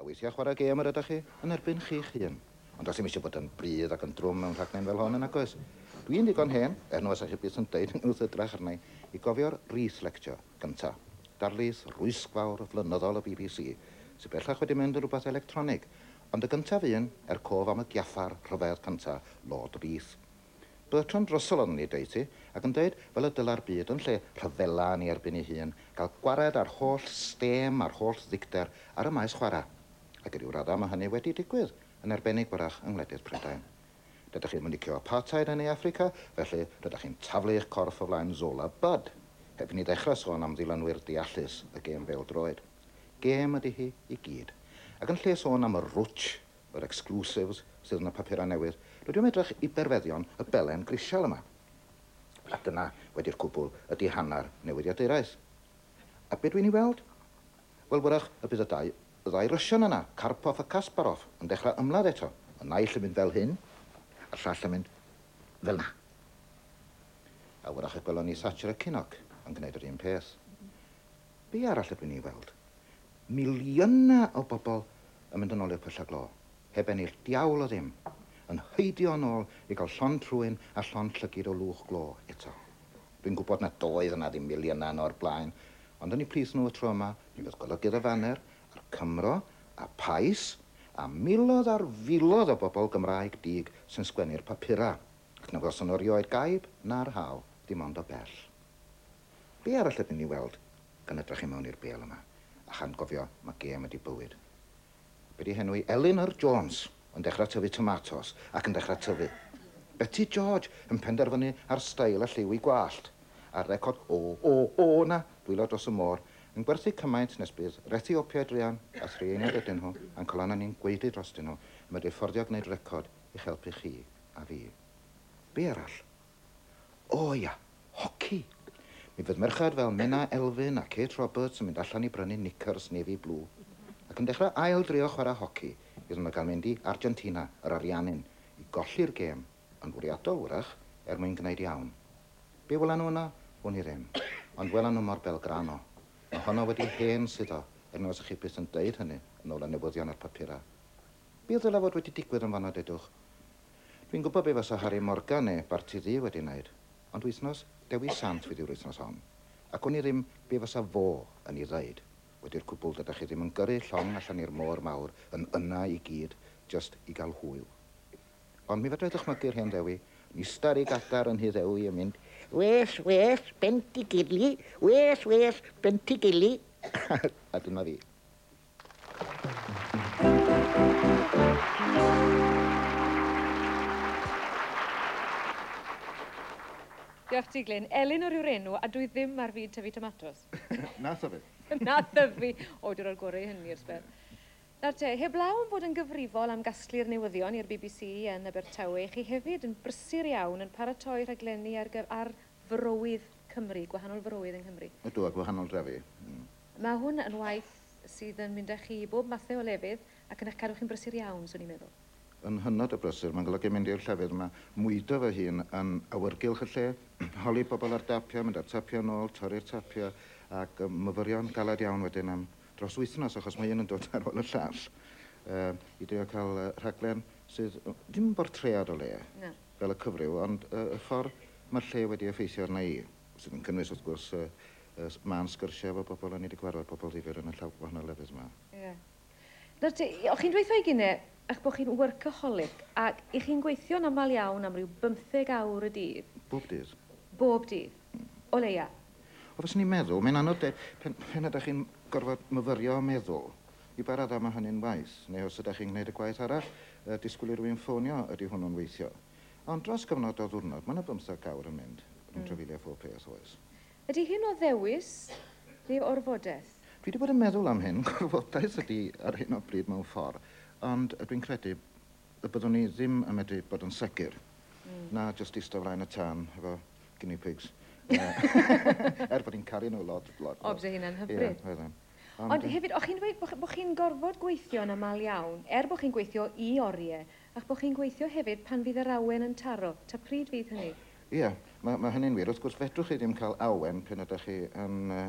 A weithiau chwarae gêm yr ydych chi yn erbyn chi'ch hun. Ond does dim eisiau bod yn brudd ac yn drwm mewn rhaglen fel hon yn nag oes? Dwi'n ddigon hen, er na fysech chi byth yn deud hynny wrth edrach arna i, i gofio'r Reith Lecture gynta'. Darlith rwysgfawr, flynyddol y bbc, sy bellach wedi mynd yn rhywbeth electronig, ond y gyntaf un, er cof am y giaffar rhyfedd cynta', Lord Reith. Bertrand Russell oedd yn ei deutu, ac yn dweud, fel y dylai'r byd, yn lle rhyfela yn ei erbyn ei hun, gael gwared â'r holl stêm a'r holl ddicter ar y maes chwarae. Ac i ryw raddau mae hynny wedi digwydd, yn arbennig wrach yng ngwledydd Prydain. Dydych chi'm yn licio apartheid yn Ne Affrica, felly rydych chi'n taflu eich corff o flaen Zola Budd. Heb i ni ddechrau sôn am ddilynwyr deallus y gêm bêl-droed. Gêm ydy hi i gyd. Ac yn lle sôn am y rwtsh, Yr exclusives sydd yn y papurau newydd. Rydw i am edrych i berfeddion y belen grisial yma. A dyna, wedi'r cwbl, ydi hanner newyddiaduraeth. A be dwi'n ei weld? Wel, wyrach y bydd y dau, y ddau Russian yna, Karpov a Kasparov, yn dechrau ymladd eto. Y naill yn mynd fel hyn, a'r llall yn mynd fel 'na. A wyrach y gwelwn ni Thatcher a Kinnock yn gwneud yr un peth. Be arall ydw i'n ei weld? Miliynau o bobl yn mynd yn ôl i'r pylla glo, heb ennill diawl o ddim, yn heidio yn ôl i gael llond trwyn a llond llygid o lwch glo eto. Dwi'n gwybod nad oedd yna ddim miliynau yno o'r blaen, ond oni plith nhw y tro yma, mi fydd golygydd y faner, a'r Cymro, a Pais, a miloedd ar filoedd o bobl Gymraeg dug sy'n sgwennu'r papurau, ac na welson nhw erioed gaib na'r haul, dim ond o bell. Be arall ydyn ni weld gan edrach i mewn i'r bêl yma a chan gofio ma gêm ydi bywyd. Be di henw i? Elinor Jones yn dechra tyfu tomatos ac yn dechra tyfu. Beti George yn penderfynu ar stail a lliw i gwallt. A'r record o o o na dwylo dros y môr yn gwerthu cymaint nes bydd Reti Opiaid Rhian a thri einiad ydyn nhw a'n colonna ni'n gwaedu drostyn nhw yn medru fforddio gneud record i'ch helpu chi a fi. Be arall? O ia, hoci! Mi fydd merched fel Menna Elfyn a Kate Roberts yn mynd allan i brynu knickers navy blue ac yn dechrau ail drio chwarae hoci iddyn nhw gael mynd i Argentina, yr Ariannin, i golli'r gêm, yn fwriadol, wrach, er mwyn gwneud iawn. Be wela nhw yno? Wn i ddim. Ond wela nhw mor Belgrano. Mae honno wedi hen suddo, er na fysech chi byth yn deud hynny yn ôl y newyddion a'r papurau. Be ddylai fod wedi digwydd yn fan'na, dedwch? Dwi'n gwybod be fasa Harry Morgan ne Barti Ddu wedi wneud, ond wythnos Dewi Sant fydd yw'r wythnos hon, ac wn i ddim be fasa fo yn i ddeud, wedi'r cwbl dydach chi ddim yn gyrru llong allan i'r môr mawr yn yna i gyd jyst i gael hwyl. Ond mi fedra i ddychmygu rhên Ddewi yn ista'r i gadar yn nhŷ Ddewi yn mynd, Wes, wes, Bentigilli, wes, wes, Bentigilli! a dyna fi. Diolch ti, Glyn. Elinor yw'r enw, a dwi ddim ar fyd tyfu tomatos. Na thyfu. Na thyfu. O, dwi roi'r gorau i hynny i'r sbel. Nawr te, heblaw am fod yn gyfrifol am gasglu'r newyddion i'r bbc yn Abertawe, chi hefyd yn brysur iawn yn paratoi rhaglenni ar, ar forowydd Cymru, gwahanol forowydd yng Nghymru. Ydw, a gwahanol drefi. Mm. Mae hwn yn waith sydd yn mynd â chi i bob mathau o lefydd ac yn eich cadw chi'n brysur iawn, swn i'n meddwl. Yn hynod o brysur, mae'n golygu mynd i'r llefydd yma, mwydo fy hun yn awyrgylch y lle, holi pobl ar dapiau, mynd â'r tapiau yn ôl, torri'r tapiau, ac yy myfyrio'n galed iawn wedyn am dros wythnos achos mae un yn dod ar ôl y llall yy i drio cael yy rhaglen sydd yy dim bortread o le. Na. fel y cyfryw, ond y ffordd mae'r lle wedi effeithio arna i, sydd yn cynnwys, wrth gwrs, y mân sgyrsiau efo pobl, o'n i 'di cyfarfod pobl ddifyr yn y llaw- gwahanol lefydd 'ma. Ie. Nawr te, o' chi'n dweutho i Gine 'ych bo' chi'n workaholic, ac 'ych chi'n gweithio'n aml iawn am ryw bymtheg awr y dydd. Bob dydd. Bob dydd. O leia. Wel, fyswn i'n meddwl, mae'n anodd deud, pan, pan ydach chi'n gorfod myfyrio a meddwl, I ba raddau mae hynny'n waeth? Neu os ydach chi'n gwneud y gwaith arall, y disgwyl i rywun ffonio, ydy hwnnw'n weithio? Ond dros gyfnod o ddiwrnod, mae 'na bymtheg awr yn mynd, yn trafeilio phob peth, oes? Ydy hyn o ddewis neu o orfodaeth? Dwi 'di bod yn meddwl am hyn, gorfodaeth ydy ar hyn o bryd mewn ffordd, ond dwi'n credu y byddwn i ddim yn medru bod yn segur na jyst ista flaen y tân efo guinea pigs, er bod i'n caru nhw lot, lot, lot. Odd e hynna'n hyfryd. Ie, oedd e. Ond Ond hefyd, o'ch chi'n dweud bod, bod chi'n gorfod gweithio yn aml iawn, er bod chi'n gweithio i oriau, a'ch bod chi'n gweithio hefyd pan fydd yr awen yn taro. Ta pryd fydd hynny? Ie, mae, mae hynny'n wir. Wrth gwrs, fedrwch chi ddim cael awen pan ydych chi yn uh,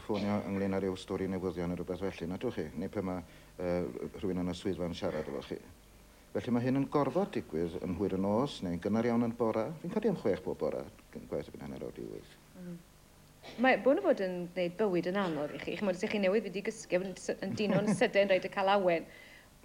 ffonio ynglyn â rhyw stori newyddion neu rhywbeth felly, nad ydych chi? Neu pan mae uh, rhywun yn y swyddfa yn siarad efo chi. Felly mae hyn yn gorfod digwydd yn hwyr y nos neu'n gynnar iawn yn bora. Fi'n codi am chwech bob bora, gwaith y byn hanner awr di wyth. Mm. Mae bron a bod yn gwneud bywyd yn anodd i chi. Chimod, os ych chi newydd wedi gysgu, yn, yn dino'n sydyn, rhaid y calawen.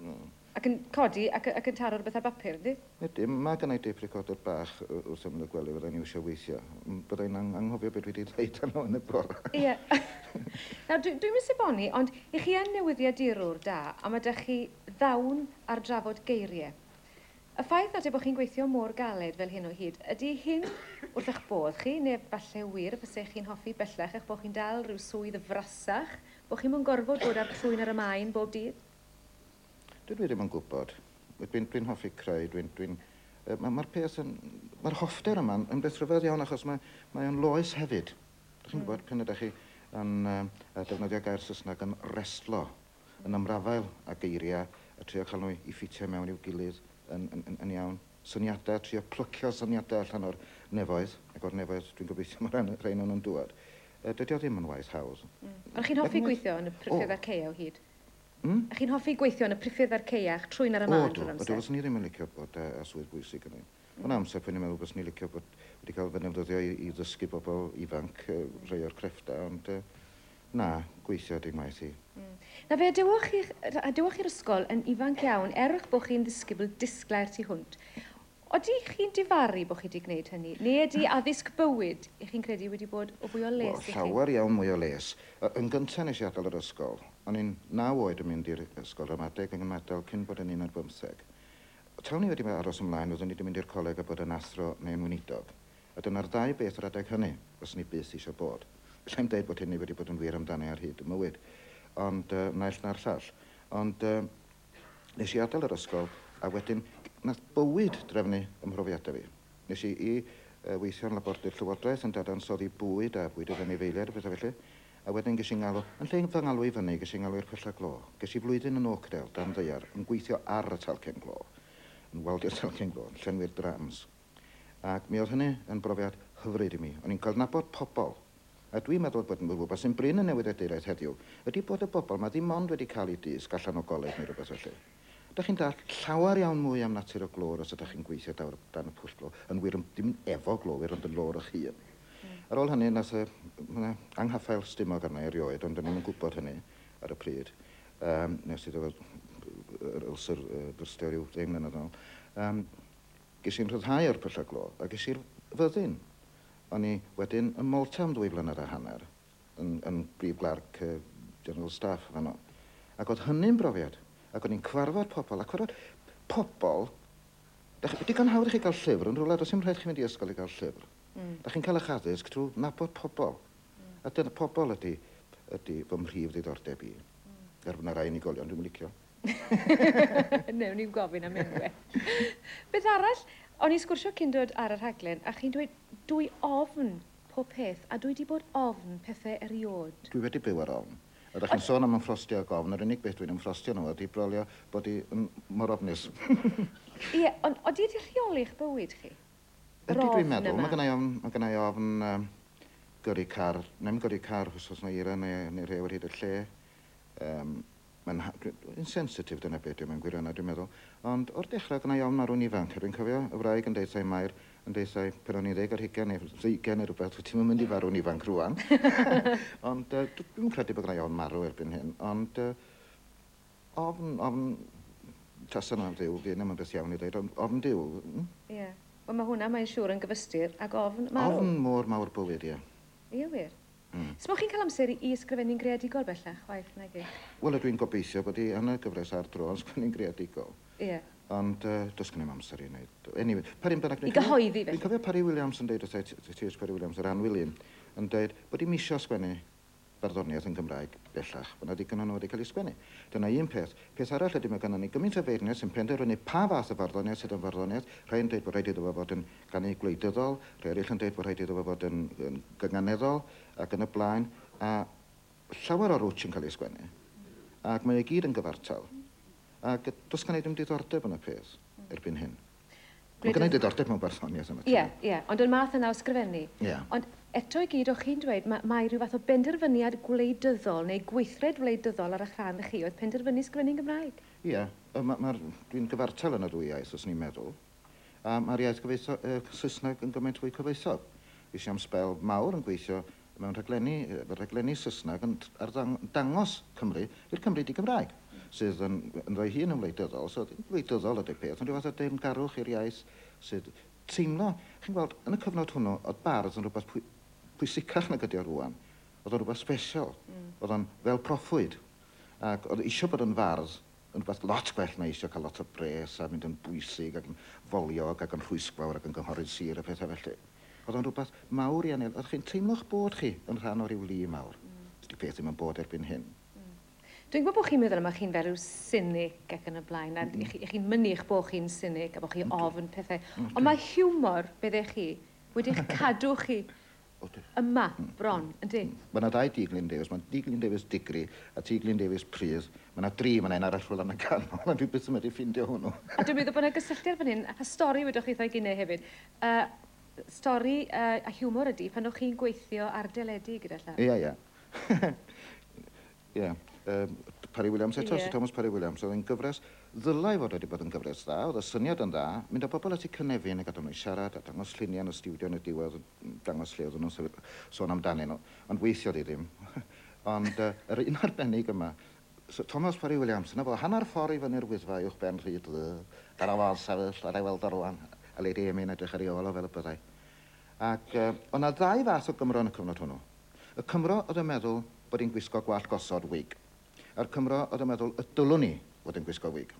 Mm. Ac yn codi ac, ac yn taro rhywbeth ar bapur, ydy? Ydy, mae gennau deip recorder bach wrth ymyl y gwely, fyddai'n iwsio weithio. Byddai'n ang anghofio beth dwi wedi dweud yno yn y bore. Ie. Yeah. Nawr, dwi, dwi'n mis eboni, ond i chi yn newyddiadurwr da, a mae da chi ddawn ar drafod geiriau. Y ffaith nad yw bod chi'n gweithio mor galed fel hyn o hyd, ydy hyn wrth eich bodd chi, neu falle wir fysech chi'n hoffi bellach eich bod chi'n dal rhyw swydd frasach, bod chi'm yn gorfod bod â'r trwyn ar y maen bob dydd? Dydw i ddim yn gwybod. Dwi'n, dwi'n hoffi creu, dwi'n, dwi'n... Yy, ma', ma'r peth yn... Ma'r hoffter yma yn beth rhyfedd iawn achos mae, mae o'n loes hefyd. Dych chi'n gwybod, pan ydych chi yn yy yy defnyddio gair Saesneg yn restlo, yn ymrafael â geiriau a trio cael nhw i ffitio mewn i'w gilydd yn, yn, yn, yn iawn. Syniadau, trio plycio syniadau allan o'r nefoedd, ac o'r nefoedd dwi'n gobeithio mae rhan, rhain o'n nhw'n dŵad. Uh, dydy o ddim yn waith hawdd. Mm. Ond chi'n hoffi gweithio yn y priffyrdd a'r ceia o hyd? Mm? A chi'n hoffi gweithio yn y priffyrdd a'r ceia a'ch trwyn ar y man drwy'r amser? O, dwi, fyswn i ddim yn licio bod uh, a swydd bwysig yn ein. Mm. Ond amser, pwy'n i'n meddwl byswn i licio bod wedi cael fy nefnyddio i, i ddysgu bobl ifanc uh, rhai o'r crefftau, ond uh, Na, gweithio dim waith i. Na fe, dewch chi, a dewch i'r ysgol yn ifanc iawn, er eich bod chi'n ddisgybl disglair tu hwnt. Odi chi'n difaru bod chi wedi gwneud hynny, neu ydy addysg bywyd, i chi'n credu, wedi bod o fwy o les i chi? Wel, llawer iawn mwy o les. Yn gyntaf nes i adael yr ysgol. O'n i'n naw oed yn mynd i'r ysgol ramadeg yng Nghymadael cyn bod yn un ar bymtheg. Taw ni wedi aros ymlaen, fyddwn i wedi mynd i'r coleg a bod yn athro neu yn weinidog. A dyna'r dau beth yr adeg hynny, fyswn i byth eisiau bod. Alla i'm deud bod hynny wedi bod yn wir amdani ar hyd 'y mywyd. Ond yy naill na'r llall. Ond yy nes i adael yr ysgol a wedyn nath bywyd drefnu 'y mhrofiadau fi. Nes i i yy weithio yn labordy'r Llywodraeth yn dadansoddi bwyd a bwyd oedd anifeiliaid a pethau felly. A wedyn ges i 'ngalw, yn lle i fy ngalw i fyny, ges i 'ngalw i'r Pwyllau Glo. Ges i flwyddyn yn Oakdale, dan ddaear, yn gweithio ar y talcen glo. Yn waldi'r talcen glo, yn llenwi'r drams. Ac mi oedd hynny yn brofiad hyfryd i mi. O'n i'n cydnabod pobl. A dwi'n meddwl bod rhywbeth sy'n brin yn newyddiaduraeth heddiw ydy bod y bobl yma ddim ond wedi cael eu dysg allan o goleg neu rhywbeth felly. Dych chi'n dallt llawer iawn mwy am natur y glöwr os ydych chi'n gweithio dawr dan y pwll glo, yn wir yn, dim efo glowyr ond yn lôr eich hun. Ar ôl hynny, nath y, yna, anghaffael stumog arna i erioed, ond o'n i'm yn gwybod hynny ar y pryd. Yym, nes i ddod yr ulcer yy byrstio ryw ddeng mlynedd yn ôl. Yym. Ges i'n rhyddhau o'r pyllau glo a ges i'r fyddin. O'n i wedyn ym Malta am ddwy flynedd a hanner, yn, yn brif glerc y General Staff fanno. Ac oedd hynny'n brofiad. Ac o'n i'n cyfarfod pobl, ac oedd pobl... Dach chi, digon hawdd i chi gael llyfr yn rhywle, does dim rhaid chi fynd i ysgol i gael llyfr. Mm. Dach chi'n cael eich addysg trwy nabod pobl. Mm. A dyna pobl ydy, ydy fy mhrif ddiddordeb i. Mm. Er fod yna rai unigolion dwi'n licio. Newn ni'm gofyn am enwe. Beth arall? O'n i'n sgwrsio cyn dod ar y rhaglen a chi'n dweud dwi ofn pob peth a dwi 'di bod ofn pethe eriôd. Dwi wedi byw ar ofn. Ydach chi'n sôn am ymffrostio ag ofn, yr unig beth dwi'n ymffrostio yno fo ydi brolio bod i yn mor ofnus. Ie, ond odi wedi rheoli eich bywyd chi? Yr ofn yma? Ydi dwi'n meddwl. Mae gennai ofn, mae gennai ofn yym gyrru car, 'nai'm gyrru car os oes 'na eira neu neu rhew ar hyd y lle. Yym. Mae'n ha-. Dwi, dwi'n sensitif, dyna be' ydi o mewn gwirionedd, dwi'n meddwl. Ond o'r dechra gynna' i ofn marw'n ifanc, a dwi'n cofio y wraig yn deutha i, Mair, yn deutha i pan o'n i'n ddeg ar hugain neu ddeugain neu rwbeth, wyt ti'm yn mynd i farw'n ifanc rŵan. Ond yy dw- dwi'm yn credu bod gynna' i ofn marw erbyn hyn, ond yy ofn, ofn tasa 'na Dduw, fydd 'na'm yn beth iawn i ddeud, ond ofn Duw, mm? Ie. Wel, ma' hwnna, mae'n siŵr, yn gyfystyr ag ofn marw. Ofn mor mawr bywyd, ie. Ie wir. Mm. Smoch chi'n cael amser i ysgrifennu'n greadigol bellach, chwaith, nag i? Wel, ydw i'n gobeithio bod i yn y gyfres ar dro yn sgwennu'n greadigol. Ie. Ond uh, does gennym amser i wneud. Anyway, pa run bynnag... I gyhoeddi, felly. Fi'n cofio Parry Williams yn dweud wrth T.H. Parry Williams, yr anwilyn, yn dweud bod i'm eisiau sgwennu barddoniaeth yn Gymraeg bellach. Mae yna ddigon o nhw wedi cael ei sgwennu. Dyna un peth. Peth arall ydy mae gennym ni gymaint o feirniaid sy'n penderfynu pa fath o farddoniaeth sydd yn farddoniaeth. Rhai'n dweud bod rhaid iddo fo fod yn gan eu gwleidyddol, rhai eraill yn dweud bod rhaid iddo fo fod yn gynganeddol ac yn y blaen, a llawer o rwtsh yn cael ei sgwennu, ac mae o i gyd yn gyfartal, ac does gan i ddim diddordeb yn y peth erbyn hyn. Mae gen i ddiddordeb mewn barddoniaeth yn y tu mewn. Ie, ie, ond yn math yna o sgrifennu. Ie. Ond eto i gyd, o'ch chi'n dweud, ma- mae rhyw fath o benderfyniad gwleidyddol neu gweithred wleidyddol ar eich rhan chi oedd penderfynu sgrifennu'n Gymraeg? Ie, yy ma- ma'r... dwi'n gyfartal yn y ddwy iaith, fyswn i'n meddwl. A mae'r iaith gyfoethog, y Saesneg, yn gymaint fwy cyfoethog. Es i am sbel mawr yn gweithio mewn rhaglenni, efo rhaglenni Saesneg yn arddang- dangos Cymru i'r Cymry di-Gymraeg, sydd yn ynddo'i hun yn wleidyddol. So, ddim gwleidyddol ydy'r peth, ond rhyw fath o deyrngarwch i'r iaith sydd teimlo... Chi'n gweld, yn y cyfnod hwnnw, oedd bardd yn rhywbeth pwy- pwysicach nag ydy o rŵan. Oedd o'n rhywbeth sbesial. Oedd o'n fel proffwyd. Ac oedd isio bod yn fardd Yn rhywbeth lot gwell na eisio cael lot o bres a mynd yn bwysig ac yn foliog ac yn rhwysgfawr ac yn gynghorydd sir a phethau felly. Oedd o'n rhywbeth mawr i Anel, oedd chi'n teimlo'ch bod chi yn rhan o ryw lu mawr. Dydi peth ddim yn bod erbyn hyn. Dwi'n gwybod bod chi'n meddwl yma chi'n fel rhyw sinig ac yn y blaen a chi'n mynnu eich bod chi'n sinig a bod chi ofn pethau ond mae hiwmor, medde chi, wedi'ch cadw chi Odi. Yma, bron, yndi. Mae 'na ddau Dŷ Glyn Davies. Mae Dŷ Glyn Davies Digri a Tŷ Glyn Davies Pridd. Mae 'na dri fan'na, un arall rhwla yn y canol, ond dwi byth yn medru ffindio hwnnw. A dwi'n meddwl bod 'na gysylltiad fan hyn, a stori wedoch chi wrtha i gine hefyd. Yy stori yy a hiwmor ydi pan o'ch chi'n gweithio ar deledu gyda llaw. Ia, ia. Ie. Yym, Parry Williams eto, Sir Thomas Parry Williams. Oedd e'n gyfres, ddylai fod wedi bod yn gyfres dda, oedd y syniad yn dda, mynd â bobl at eu cynefin a gadael nhw i siarad a dangos lluniau yn y stiwdio yn y diwedd, dangos lle oedden nhw'n sôn amdanyn nhw. Ond weithiodd hi ddim. Ond yr un arbennig yma, Sir Thomas Parry Williams, 'na fo, hanner ffordd i fyny'r Wyddfa uwch ben Rhyd Ddu, dyna fo yn sefyll, allai weld o rŵan, a Lady Amy yn edrych ar ei ôl o fel y byddai. Ac oedd 'na ddau fath o Gymro yn y cyfnod hwnnw. Y Cymro oedd yn meddwl, bod hi'n gwisgo gwallt gosod, wig. A'r Cymro oedd yn meddwl y dylwn i fod yn gwisgo wig.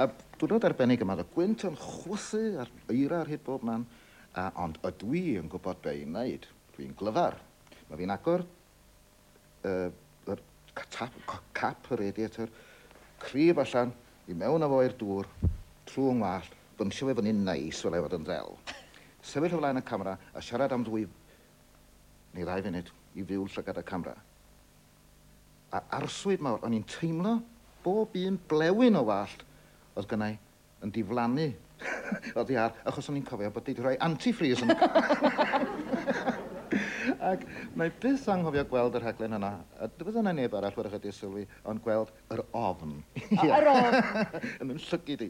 a diwrnod arbennig yma, oedd y gwynt yn chwythu a'r eira ar hyd bob man, a, ond ydw i yn gwybod be i'n wneud. Dwi'n glyfar. Mae fi'n agor uh, yr tap, cap y radiator, cryf allan, i mewn â fo i'r dŵr, trwy yng ngwallt, bymsio fe fyny'n neis fel ei fod yn ddel. Sefyll o flaen y camera a siarad am ddwy neu ddau funud i fyw llygad y camera. A arswyd mawr, o'n i'n teimlo bob un blewyn o wallt oedd gynnau yn diflannu oddi ar, achos o'n i'n cofio bod wedi rhoi antifreeze yn y car. Ac mae byth anghofio gweld y rhaglen yna, a dyfod yna neb arall wrach wedi sylwi, ond gweld yr ofn. Yr ofn! Yn yn llygid i.